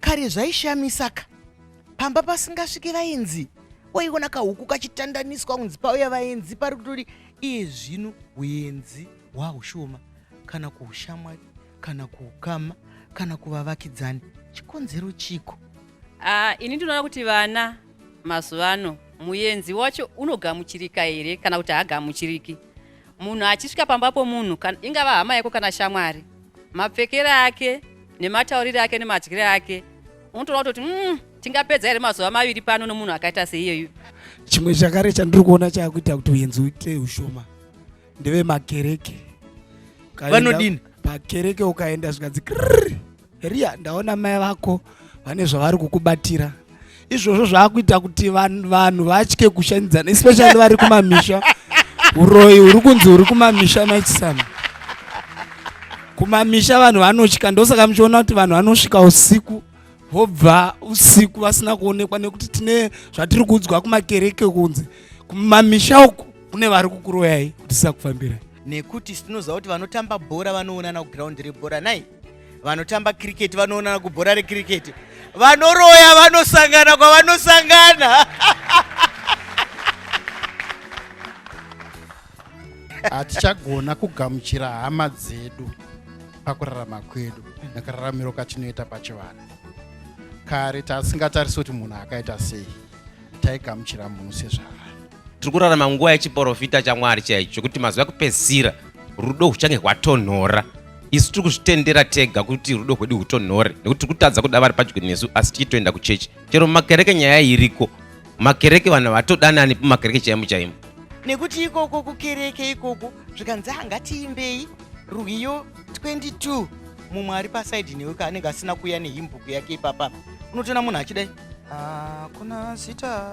kare zvaishamisa ka pamba pasingasviki vaenzi waiona kahuku kachitandaniswa kunzi pauya vaenzi pari kutori iye zvino huenzi hwahushoma kana kuushamwari kana kuukama kana kuvavakidzani chikonzero chiko uh, ini ndinoona kuti vana mazuva ano muenzi wacho unogamuchirika here kana kuti haagamuchiriki Munhu achisvika pamba pomunhu, ingava hama yako kana shamwari, mapfekere ake nemataurire ake nemadyire ake unotoona kutoti mm, tingapedza here mazuva maviri pano nomunhu akaita seiyeyu. Chimwe chakare chandiri kuona chakuita kuti uyenzi uite ushoma ndeve makereke. Vanodini? Pakereke ukaenda zvikanzi Ria, ndaona mai vako vane zvavari kukubatira izvozvo zvaakuita kuti vanhu vatye kushanidzana especially vari kumamisha uroyi huri kunzi huri kumamisha maichisana kumamisha vanhu vanotya ndosaka muchiona kuti vanhu vanosvika usiku vobva usiku vasina kuonekwa nekuti tine zvatiri kuudzwa kumakereke kunzi kumamisha uku kune vari kukuroyai kuti sisakufambirai nekuti tinoziva kuti vanotamba bhora vanoonana kuground rebhora nai vanotamba cricket vanoonana kubhora recricket vanoroya vanosangana kwavanosangana hatichagona kugamuchira hama dzedu pakurarama kwedu nekararamiro katinoita pachivanhu kare tasingatarisi kuti munhu akaita sei taigamuchira munhu sezvava tiri kurarama nguva yechiporofita chamwari chaicho chokuti mazuva ekupedzisira rudo huchange hwatonhora isu tiri kuzvitendera tega kuti rudo hwedu hutonhore nekuti tiri kutadza kuda vari padyo nesu asi tichitoenda kuchechi chero mumakereke nyaya iriko makereke vanhu vatodanani pamakereke chaimo chaimo nekuti ikoko kukereke ikoko zvikanzi angatiimbei rwiyo 22 mumwe ari pasaidi newe kaanenge asina kuuya nehimbuku yake ipapa unotoona munhu achidai hakuna zita